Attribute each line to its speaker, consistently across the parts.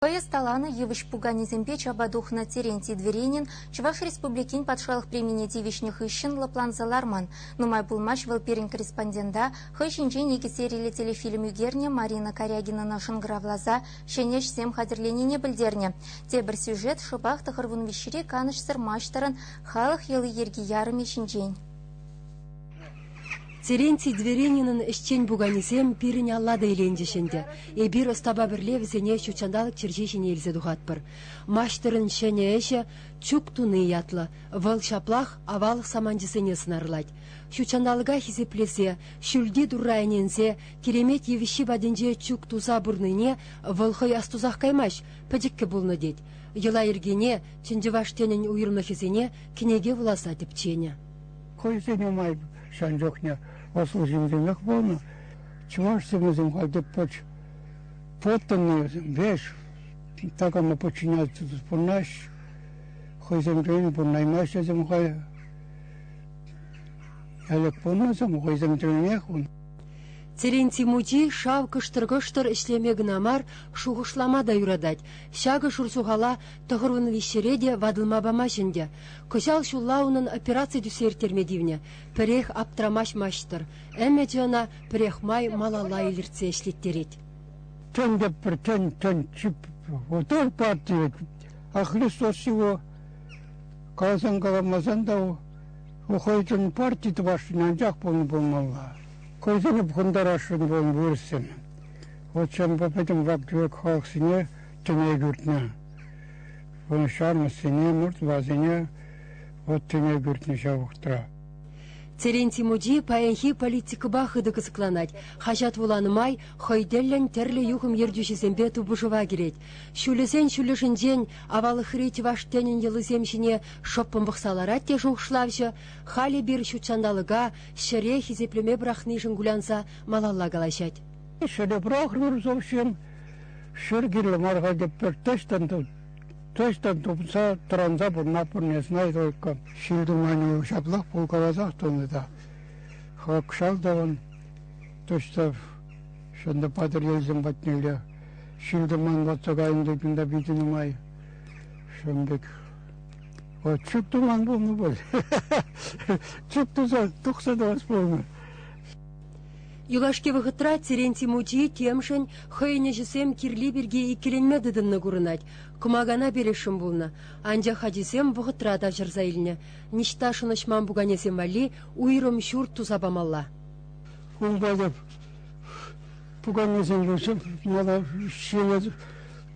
Speaker 1: Хӑй ӑсталанӑ йывӑҫ пуканесемпе чапа тухнӑ Терентий Дверенин Чӑваш Республикин Патшалӑх премине тивӗҫнӗ хыҫҫӑн лӑпланса ларман. Нумай пулмасть вӑл пирӗн корреспондента хӑй ҫинчен икӗ сериллӗ телефильм ӳкернӗ Марина Карягинӑна шӑнкӑравласа ҫӗнӗ ӗҫсем хатӗрленине пӗлтернӗ. Тепӗр сюжет шӑпах тӑхӑрвун виҫҫӗри канӑҫсӑр маҫтӑрӑн халӑх йӑли-йӗрки ярӑмӗ ҫинчен.
Speaker 2: Терентий Дверининӑн ӗҫчен пуканисем пирӗн алла та иленчӗҫ ӗнтӗ. Эпир ӑстапа пӗрле вӗсене ҫут ҫанталӑк чӗрҫи ҫине илсе тухатпӑр. Маҫтӑрӑн ҫӗнӗ ӗҫӗ «Чук туни» ятлӑ. Вӑл ҫаплах аваллӑх саманчӗсене сӑнарлать. Ҫут ҫанталӑка хисеплесе, ҫӳлти Турра ӗненсе, киремет йывӑҫҫи патӗнче чук туса пурнине вӑл хӑй астусах каймасть, пӗчӗккӗ пулнӑ тет. Йӑла-йӗркене, чӑн чӑваш тӗнӗн уйрӑмлӑхӗсене кӗнеке вуласа тӗпченӗ. Хӑйсен нумай
Speaker 3: ҫан чухне ӑслӑ ҫынсемех пулнӑ. Чӑваш симӗсем халь те пӑч. Пӑттӑннӑ веҫ, такама подчиняться пурнаҫ. Хӑйсемпен пурнаймаҫҫӗсем хай. Ялек пулнӑсем хӑйсем тӗлнех ун. Терентий
Speaker 2: мучи шав кӑштӑр-кӑштӑр ӗҫлеме кӑна мар, шухӑшлама та юратать. Ҫакӑ шурсухала Тӑхӑрвун виҫҫӗре те ватӑлма памасть ӗнтӗ. Кӑҫал ҫулла унӑн операци тӳссе ирттерме тивнӗ. Пӗрех аптрамасть маҫтӑр. Ӗмӗчӗ ӑна пӗрех май малалла илӗртсе ӗҫлеттерет. Тен те
Speaker 3: пӗр тен, тен, пултӑр та тивет. А Христос его каласан-каламасан та у хӑйсен парти тӑвасшӑн, анчах пулнӑ пулмалла. Хӑйсене пӑхӑнтарасшӑн пулнӑ вырӑссен. Вот чӑн пӗтӗм вак-тӗвек халӑхсене тӗне кӳртнӗ. Вырнаҫтармӑссене, мордвасене вӑт тӗне кӳртнӗ ҫав вӑхӑтра. Терентий
Speaker 2: мучи паянхи политикӑпа хытӑ кӑсӑкланать. Хаҫат вуланӑ май хӑй тӗллӗн тӗрлӗ юхӑм ертӳҫисемпе тупӑшӑва кӗрет. Ҫулӗсен ҫулӗшӗнчен аваллӑхри чӑваш тӗнӗн йӑлисем ҫине шӑппӑн пӑхса ларать те шухӑшлавҫӑ халь эпир ҫутҫанталӑка, ҫӗре хисеплеме пӑрахнишӗн кулянса малалла калаҫать. Ҫӗре пӑрахрӑр,
Speaker 3: совсем Ҫӗр кирлӗ мар хатӗр пӗр тӗштӗн тӗштӗн тупса тӑранса пурӑнать пурне Снайдойка. Ҫил-туманӗ ҫаплах пулкаласах тӑнӑ та хакшал тӑвӑн тӑчтав ҫыннӑ патӑрьелсем патнелле ҫил-туман ватса кайнӑ тупинта питӗ нумай. Ҫын пек вот чӳк туман пулнӑ пуль. Чӳк туса тухса тӑвас пулнӑ.
Speaker 2: Юлашки вӑхӑтра Теренти мучи темшӗн хӑйӗн ӗҫӗсем кирли пирки иккӗленме тытӑннӑ курӑнать. Кӑмакана пересшӗн пулнӑ, анчах ачисем вӑхӑтра тавҫӑрса илнӗ. Ниҫта шӑнӑҫман пуканесем валли уйрӑм ҫурт туса памалла. Ун
Speaker 3: патӑп пуканесемпе мана ҫине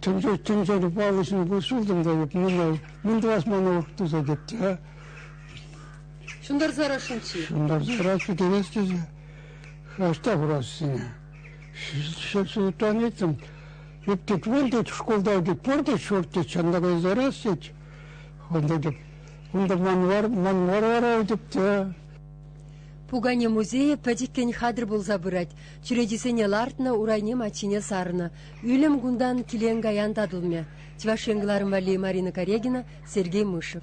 Speaker 3: тӗнчери паллӑ ҫынна сылтӑм та юп. Мӗн тӑвас мана туса тет те.
Speaker 2: Ҫунтарсарах шучи. Ҫунтарсарах
Speaker 3: китерес тесе храшта хурассине. Ҫӑлтан этем Ӳптет вон тет, шкулта тет, пор тет, шорт тет, чанда кайсарас тет. Онда тет, унда манвар, манвар арау тет те.
Speaker 2: Пукане музейӗ пӗчӗккӗн хатӗр пулса пырать. Чӳречисене лартнӑ, урайне маччине сарнӑ. Ӳлӗм кунтан килен-каян татӑлмӗ. Чӑваш Ен валли Марина Карегина, Сергей Мышев.